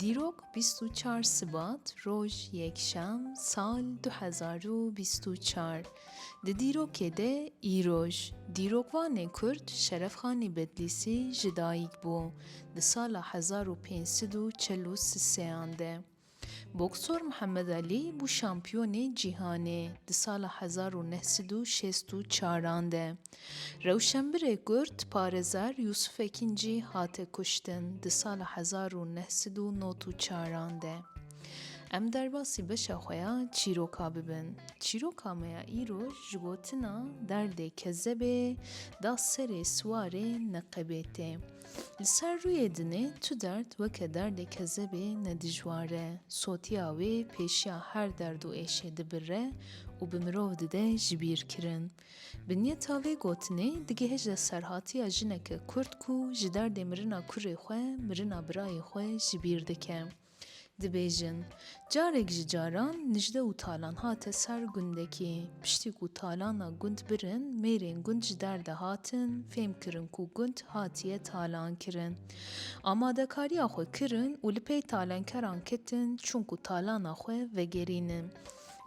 Dîrok bîst û çar Sibat roj yekşem sal du hezar û bîst û çar di dîrokê de îroj dîrokvanê Kurd Şerefxanî Bedlîsî ji dayîk bû di sala hezar û pênc sed û çel û sean de boksor Mihemed Alî bû şampiyonê cîhanê di sala hezar û neh sed û şêst û çaran de Rewşenbirê Kurd Parezar Yûsûf Ekîn jî hate kuştin di sala hezar û neh sed û not û çaran de. Em derbasî beşa xwe ya çîroka bibin. Çîroka me ya îro ji gotina derdê kezebê da serê siwarê neqebê tê. Li ser rûyê dinê tu derd weke derdê kezebê ne dijwar e. Sotiya wê pêşiya her derd û êşê dibirre û bi mirov dide jibîrkirin. Bi niyeta vê gotinê digihêje serhatiya jineke kurd ku ji derdê mirina kurê xwe, mirina birayê xwe ji bîr dike. Dibêjin, Carek ji caran nijde û talan hate ser gundekî. Piştî ku talana gund birin, mêrên gund ji derde hatin, fêm kirin ku gund hatiye talankirin. Amadekariya xwe kirin û li pey talenkeran ketin çûn ku talana xwe vegerînin.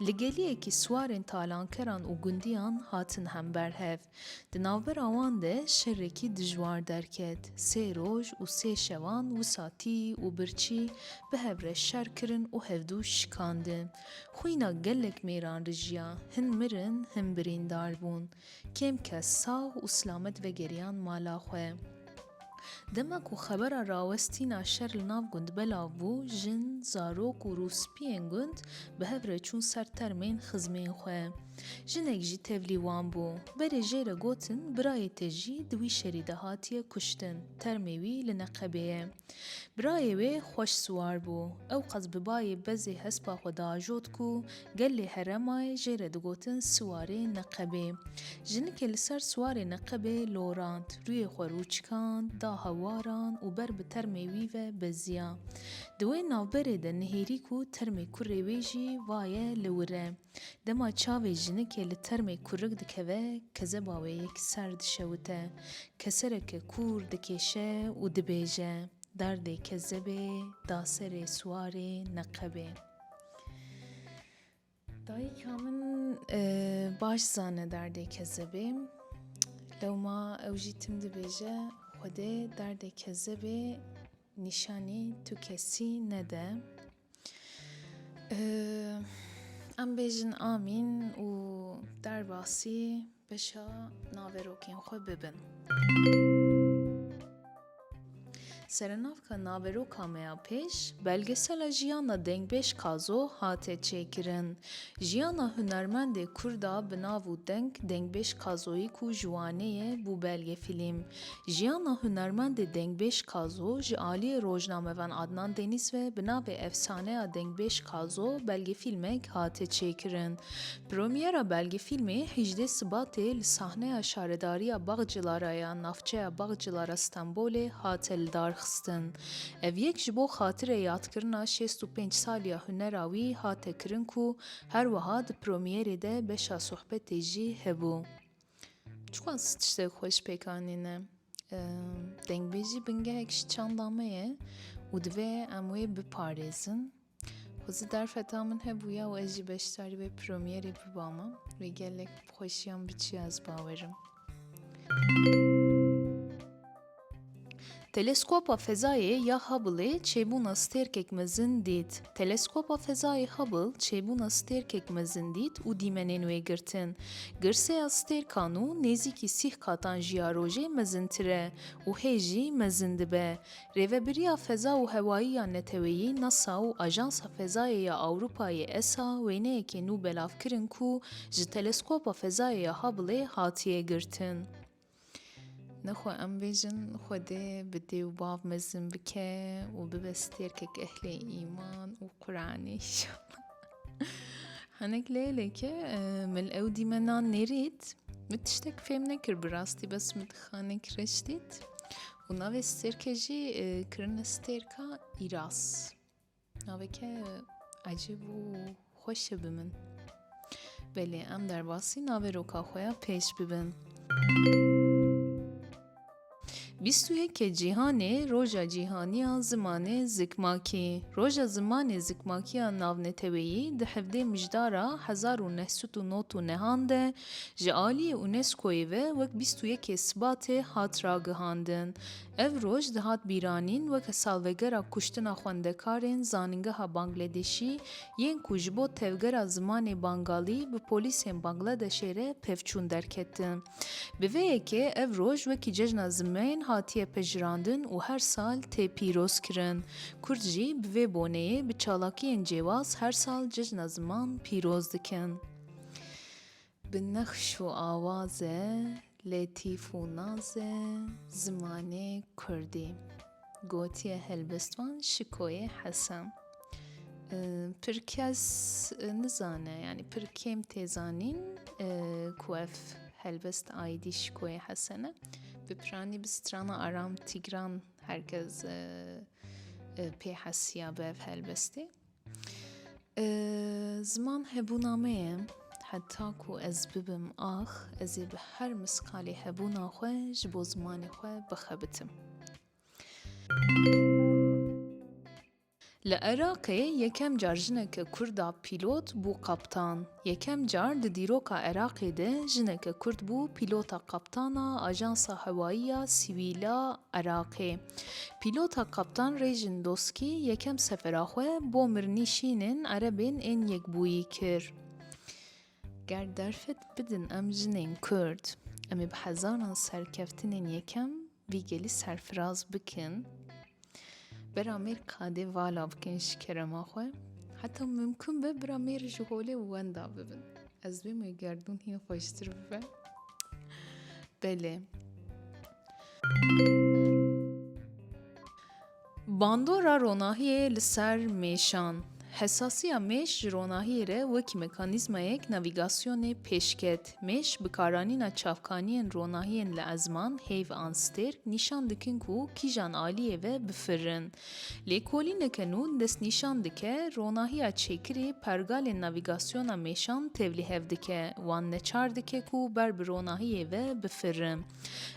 Li geliyekî siwarên talankeran û gundiyan hatin hember hev. Di navbera wan de şerekî dijwar derket. Sê roj û sê şevan wisa tî û birçî bi hev re şer kirin û hevdû şikandin. Xwîna gelek mêran rijiya, hin mirin, hin birîndar bûn. Kêm kes sax û silamet vegeriyan mala xwe. Dema ku xebera rawestîna şer li nav gund belav bû, jin, zarok û rûspiyên gund bi hev re çûn ser termên xizmên xwe. Jinek jî tevlî wan bû. Berê jê re gotin birayê te jî di wî şerî de hatiye kuştin, termê wî li Neqebê ye. Birayê wê xweş siwar bû. Ew qas bi bayê bezê hespa xwe diajot ku Gelê Heremayê jê re digotin Siwarê Neqebê. Jinikê li ser Siwarê Neqebê lorand, rûyê xwe rûçikand, da hewaran û ber bi termê wî ve beziya. Di wê navberê de nihêrî ku termê kurê wê jî va ye li wir e. Dema çavê jinikê li termê kurik dikeve, kezeba wê yek ser dişewite. Kesereke kûr dikêşe û dibêje, Derdê kezebê da serê Siwarê Neqebê. Dayika min baş zane derdê kezebê. Lewma ew jî tim dibêje Xwedê derdê kezebê nîşanî tu kesî nede. Em bêjin amîn û derbasî Beşa naverokên xwe bibin. Serenavka naveroka me ya pêş, belgesela jiyana dengbêj Kazo hate çêkirin. Jiyana hunermendê Kurda bi nav û deng Dengbêj Kazoyî ku ji Wanê ye bû belgefîlm. Jiyana hunermendê dengbêj Kazo ji aliyê rojnamevan Adnan Deniz ve bi navê Efsaneya Dengbêj Kazo belgefîlmek hate çêkirin. Premyera belge fîlmê hejdeh Sibatê li sahneya Şaredariya Baxcilara ya navçeya Baxcilara Stenbolê hate lidarxistin. Ev yek ji bo xatirê yadkirina şêst û pênc saliya hunera wî hate kirin ku her wiha di premyerê de beşa sohbetê jî hebû. Çiqas tiştek xwe ji pêk anîne. Dengbêjî bingehek ji çanda me ye û divê em wê biparêzin. Xwezî derfeta min hebûya û ez jî beşdarî wê promyerê bibama. Wê gelek bi xweşiyan biçiya ez bawerim. Teleskopa fezayê ya Hubble çêbûna stêrkek mezin dît. Teleskopa fezayê Hubble çêbûna stêrkek mezin dît û dîmenên wê girtin. Girseya stêrkan û nêzîkî sîh qatan ji ya rojê mezintir e û hê jî mezin dibe. Rêvebiriya Feza û Hewayî ya Neteweyî, NASA, û Ajansa Fezayê ya Ewropayê, esa, wêneyekê nû belav kirin ku ji Teleskopa Fezayê ya Hubble hatiye girtin. Nexwe em bêjin Xwedê bi dê û bav mezin bike û bibe stêrkek ehlê îman û Quranê inşallah. Hinek lêleke min ew dîmenan nêrît, min tiştek fêm nekir bi rastî bes min dixanek reş dît. Û navê stêrkê jî kirine stêrka Îras. Naveke ecêb û xweş e bi min. Belê em derbasî navê roka xwe ya pêş bibin. Bîst û yekê cîhanê roja cîhaniya zimanê zikmakî. Roja zimanê zikmakiya navneteweyî di hevdê mijdara hezar û neh sed û nod û nehan de Ji aliyê UNESCO'yê ve wek bîst û yekê Sibatê hat ragihandin. Ev roj dihat bîranîn weke salvegera kuştina xwendekarên zanîngeha Bangledêşî yên ku ji bo tevgera zimanê Bangalî bi polîsên Bangladeşê re pevçûn derketin. Bi vê yekê ev roj wekî cejna zimên hatiye pejirandin û her sal tê pîrozkirin. Kurd jî bi vê boneyê bi çalakiyên cêwaz her sal cejna ziman pîroz dikin. Bi nexş û awaze letîf û naze zimanê kurdî gotiye helbestvan Şikoyê Hesen. Pir kes nizane yanî pir kêm tê zanîn ku ev helbest aîdî Şikoyê Hesen e. Bi piranî bi strana Aram Tîgran herkes pê hesiya bi ev helbestê. Ziman hebûna me ye. Heta ku ez bibim ax, ez ê bi her miskalê hebûna xwe ji bo zimanê xwe bixebitim. Li Iraqê yekem car jineke Kurd a pîlot bû kaptan. Yekem car di dîroka Iraqê de jineke Kurd bû pîlota kaptana Ajansa Hewayî ya Sivîl a Iraqê. Pîlota Kaptan Rêjin Doskî yekem sefera xwe bo Mirnî şînên Erebên ên Yekbûyî kir. Ger derfet bidin em jinên Kurd, em ê bi hezaran serkeftinên yekem vî gelî serfiraz bikin. Bera mêr kadê vala bikin ji kerema xwe. Heta mimkun be bira mêr ji holê wenda bibin. Ez bê me gerdûn hîn xweştir bibe. Belê. Bandora ronahiyê li ser mêşan. Hesasiya mêş ji ronahiyê re wekî mekanîzmayek navîgasyonê pêş ket. Mêş bikaranîna çavkaniyên ronahiyên li ezman, hêv an stêrk nîşan dikin ku kîjan aliyê ve bifirin. Lêkolîneke nû destnîşan dike ronahiya çêkirî pergalên navîgasyona mêşan tevlihev dike, wan neçar dike ku ber bi ronahiyê ve bifirin.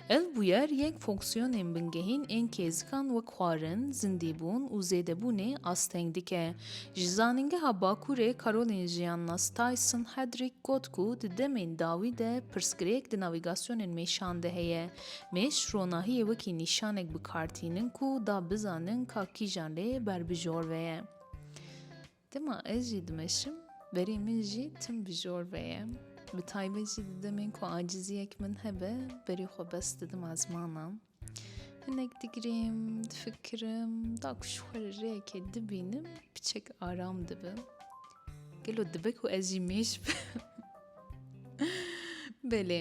Ev bûyer yên fonksiyonên bingehîn ên kêzikan wek xwarin, zindîbûn û zêdebûnê asteng dike. Ji Zanîngeha Bakurê Karolîn Jiyannas Tyson Hedrick got ku di demên dawî de pirsgirêk di navîgasyonên mêşan de heye. Mêş ronahiyê wekî nîşanek bi kar tînin ku da bizanin ka kîjan lê berbijor ve ye. Dema ez jî dimeşim, berê min jî tim bi jor ve ye. Bi taybet jî di demên ku aciziyek min hebe, berê xwe bes didim ezmana. Hinek digirêm, difikirim, da ku ji xwe re rêyekê dibînim, piçek aram dibim. Gelo dibe ku ez jî mêş bim? Belê.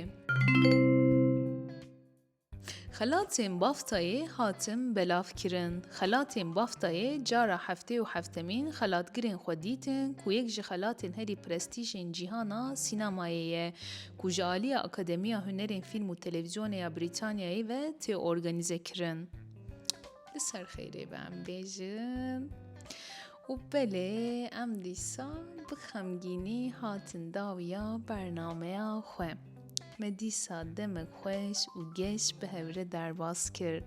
Xelatên Baftayê hatin belavkirin. Xelatên Baftayê cara heftê û heftemîn xelatgirên xwe dîtin ku yek ji xelatên herî prestîjên cîhana sînemayê ye ku ji aliya Akademiya Hunerên Fîlm û Televîzyonê ya Brîtanyayê ve tê organîzekirin. Li ser xêrê be em bêjin. Û belê em dîsa bi xemgînî hatin dawiya bernameya xwe. Me dîsa demek xweş û geş bi hevre derbas kir.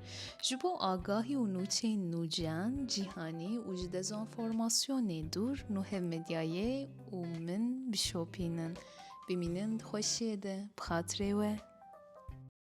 Ji bo agahî û nûçeyên nûciyan, cîhanî û ji dezonformasyonê dûr nuhev medyayê û min bişopînin. Bimînin di xweşiyê de bi xatirê we.